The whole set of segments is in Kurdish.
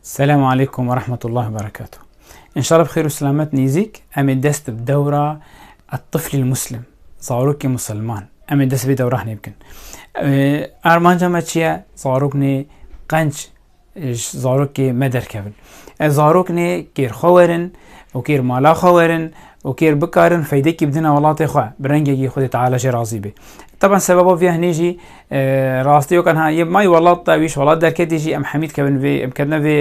Selam aleykum ve rahmetullah ve berekatuh. İnşallah bi xêr û selamet nêzîk em ê dest bi dewra Tiflîl Muslim, zarokê Musilman. Em ê dest vê dewrahnê bikin. Armanca me çi ye? Zaroknê qenc zarokê me derkevin. Ez zaroknê kêrxwe werin û kêr mala xwe werin û kêr bikarin feydekî bidin welatê xwe bi rengekî Xwedê Teala jê razî bê. Taban sebeba vê hinê jî rastiyokan ha yê mayî welat da wîş welat derketî jî em hemî dikevin vê em ketine vê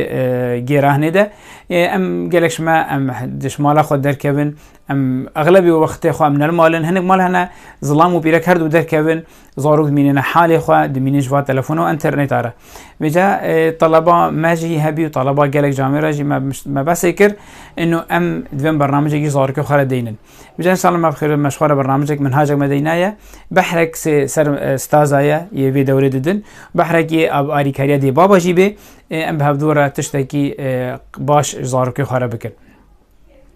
gêrahinê de em gelek ji me em di ji mala xwe derkevin em exlebî wextê xwe em li malin hinek mal hene zilam û pîrek her du derkevin Zarok dimînîne halê xwe, dimînîn ji va telefona û înterneta re. Vê ca taleba me jî hebî û taleba gelek camê re jî me me besê kir inu em divên bernamecekî zarokê xwe re deynin. Vê ca înşallah me bixêr me ji xwe re bernamecek minhacek me deyna ye. Behrek sê ser staza ye yê vê dewrê didin. Behrek yê alîkariya dê baba jî bê em bi hevdû re tiştekî baş zarokê xwe re bikin.